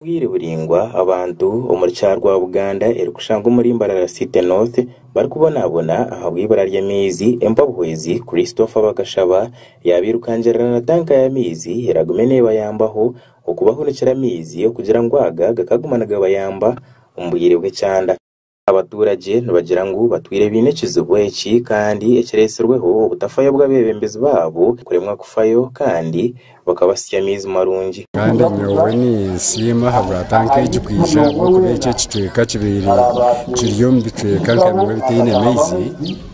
Obwire buraingwa abantu omuri kyaro rwa Buganda erikushusha nka omuri Mbarara City North barikubonabona ahabwibura ry'amaizi empabuhwezi Christopher bakashaba yabirukangirira na tanka y'amaizi eragume nebayambaho okubahunikira amaizi okugira ngu aga gakaguma nigabayamba omu bwire bw'ekyanda. Abatuuragye nibagira ngu batwire baine ekizibu eki kandi ekireetsirweho obutafayo bw'abeebembezi baabo kuremwa kufayo kandi bakabasitsya amaizi marungi. Kandi nyowe ninsiima ahabw'ata nk'egi kwija ahabw'okuba eki ekicweka kibaire kiri omu bicweka nka bimwe ebitaine maizi.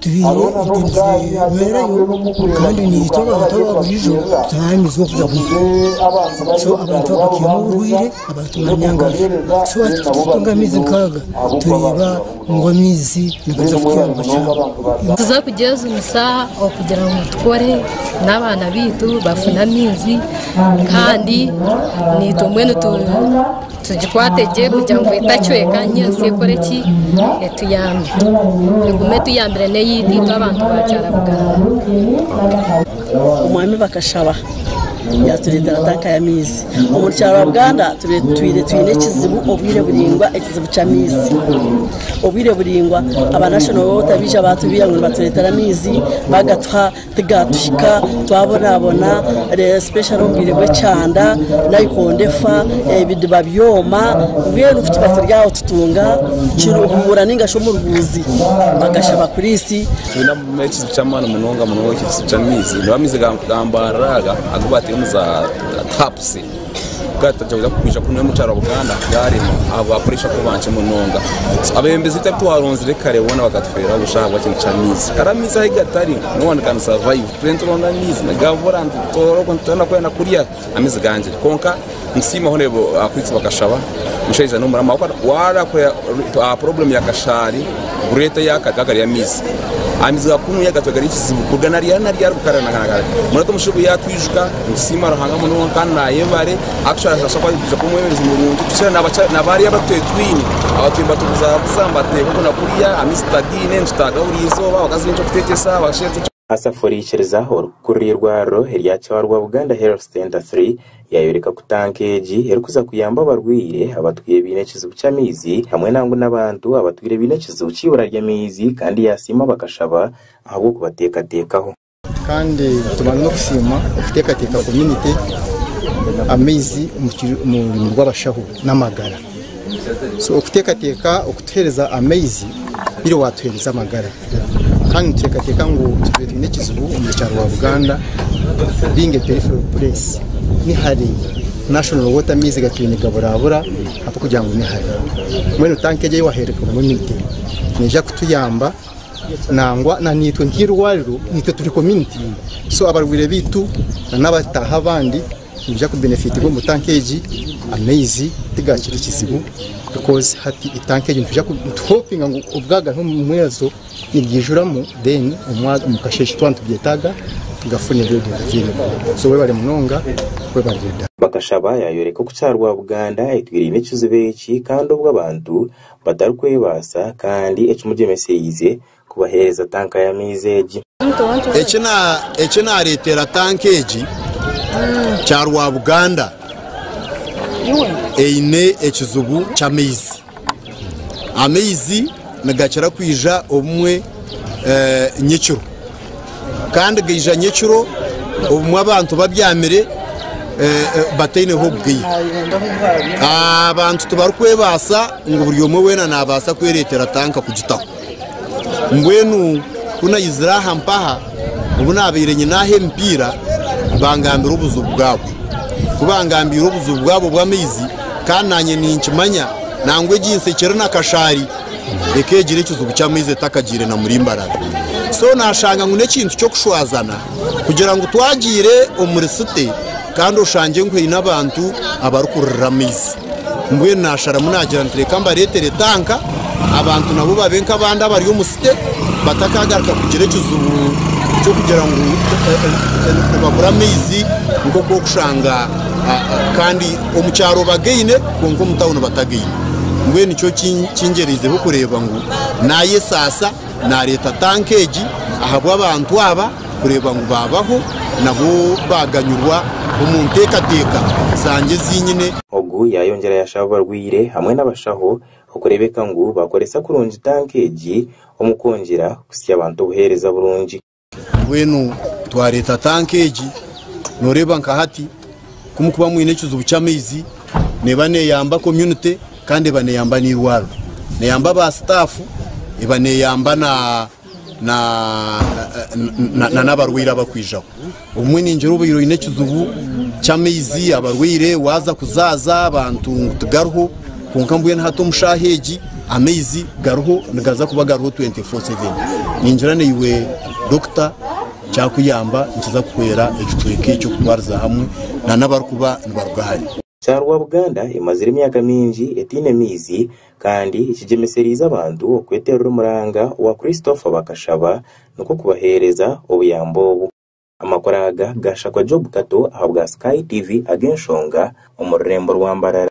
Tubaire nitwemererayo kandi naitwe abantu aba buriijo turaramizibwa okugira ngu so abantu abakakihamu oburwaire abantu baanyangaza so hati turikumira amaizi nkaaga tureeba ngu amaizi nigaza kutuhwera omu kyanga tuza kugyejunisa okugira ngu tukore n'abaana baitu bafune amaizi kandi naitwe mbwenu tu Tugikwate gye kugira ngu etacweka niyo ensi ekore ki? Etuyambe. Egume etuyambire n'eyitu itwe abantu ba Kyarabuganda. Omwami bakashaba yaatureetera tanka y'amaizi. Omu Kyarabuganda twire twine ekizibu obwire buraingwa, ekizibu ky'amaizi. Obwire buraingwa aba National Water baija baatubwira ngu nibatureetera amaizi, baagatuha. Tigaatuhika twabonaabona especially omu bwire bw'ekyanda naikondo efa, ebidiba byoma mbwenu ku tuba turi aho tutunga Kiruhura nainga shi Omurubuuzi bagashaba kuriisi. Twine ekizibu ky'amaani munonga munonga ekizibu ky'amaizi, nigo amaizi ga mbaara aga agu bataire omu za tapusi. Bwato nitwija kwija kunywa omu kyaro Buganda bwarema ahabwa pressure kuba nkye munonga. So abebembezi itari twaronzire kare boona bakatufeera busha ahabwa kintu ky'amaizi. Kare amaizi ahi gatari no one can survive. Twine nituronda amaizi nigabura nitutoora oku nitutoora kwenda kurya amaizi gangire. Kwonka nitusiima hono abo abakwitsi bakashaba mushaija n'omuramu ahabw'okuba warakorera aha problem ya kashaari greater yaka gaaga gari amaizi. Amaizi gakunuya gatwe gari ekizibu kuruga nari ari nari ari kukarira nagana gari. Mbwenu hati omushaija obu yatwijuka Ninsiima Ruhanga munonga kandi naayebare actually naabaasa kuba arikuguza kuba omwebembezi murungi kukira na bariya abu twetwine abu turiyo nibatubuzabuza nibateeka oku na kuriya aha maizi tutariine nitutaaga buri izooba abakazi baine eky'okuteegyesa abashaija baine Asafuriikiriza orukukuru rw'eirwariro erya Kyarwa Buganda Health Centre iii yaayoreka ku tanka egi erikuza kuyamba abarwaire abatwire baine ekizibu ky'amaizi hamwe nangu n'abantu abatwire baine ekizibu ky'eibura ry'amaizi kandi yaasiima bakashaba ahabw'okubateekateekaho. Kandi tubanza n'okusiima okuteekateeka community amaizi omu rurimi rw'abashaho n'amagara. So okuteekateeka okutuheereza amaizi oihiire waatuheereza amagara. Kandi nituteekateeka ngu tubaire twine ekizibu omuri kyaro wa Buganda being a peripheral place ni hare, national water amaizi gatwire nigaburaabura ahabw'okugira ngu ni hare. Mbwenu tanka egi ei waheereza community neija kutuyamba. nangwa na itwe nk'irwariro itwe turi community so abarwaire baitu na nabataahi abandi nibaija ku benefitirwa omu tank egi amaizi tigakiri kizibu coz hati tank egi nituza ku tu hopinga ngu obwaga omu mwezi ogu nibwijuramu then omwa omu kasheeshe twaba nitugetaaga tugafune ready available so webare munonga webare Ridha. Bakashaba yaayoreka oku Kyarwabuganda etwiraine ekizibu eki kandi obu abantu batarikwebaasa kandi ekimugyemesereize kubaheereza tanka y'amaizi egi. Eki naareetera tanka egi kya Rwabuganda eine ekizibu ky'amaizi. Amaizi nigakira kwija obumwe nyekiro. Kandi gaija nyekiro obumwe abantu babyamire bataineho obugaia. Abantu tibarikwebaasa ngu buri omwe weena naabaasa kwereetera tanka kugitaho. Mbwenu ku naizire aha mpaha obu naabaire nyine aha emipiira bangambira obuzibu bwabo. Ku bangambiire obuzibu bwabo bw'amaizi kandi naanye ninkimanya nangwa egi nsekye eri na kashaari ekagira ekizibu ky'amaizi etakagiire na murimbarara so nashanga ngu n'ekintu ky'okushwazana kugira ngu twagiire omuri site kandi oshange ngu haine abantu abarikurira amaizi mbwenu nasharamu nagira nti reka mbareetere tanka abantu nabo babe nk'abandi abari omu site batakagaruka kugira ekizibu ky'okugira ngu eh, eh, eh, nibabura amaizi nk'oku okushanga ah, ah, kandi Omu kyaro bagaine kwonka omu tawuni batagaine. Mbwenu nikyo kingyereizeho kureeba ngu naayesaasa naareeta tanka egi ahabw'abantu aba kureeba ngu baabaho nabo baaganyurwa omu nteekateeka zangye ezi nyine. Ogu yaayongyera yashaba abarwaire hamwe n'abashaho okureebeka ngu baakoresa kurungi tanka egi omu kwongyera kutsya abantu obuheereza burungi. Mbwenu twareeta tanka egi, noreeba nka hati ku mukuba mwine ekizibu ky'amaizi neeba neyamba community kandi eba neyamba n'eirwariro, neyamba ba staff, eba neyamba na na na na n'abarwaire abakwijaho. Obumwe ningira obaire oine ekizibu ky'amaizi, abarwaire, waaza kuzaaza abantu ngu tigariho, Kwonka mbwenu hati omu shaaha egi amaizi gariho nigaza kuba gariho 24/7. Ningira naiwe Dokita kyakuyamba nikiza kuhwera ekicweka eki okutwariza hamwe nana abarikuba nibaruga hare. Charwa Buganda emazire emyaka mingi etaine maizi kandi ekigyemesereize abantu okweterera omuranga owa Christopher bakashaba nikwo kubaheereza obuyambi obu. Amakuru aga gaashakwa Job Kato ahabwa Sky TV ag'enshonga omu rurembo rwa Mbarara.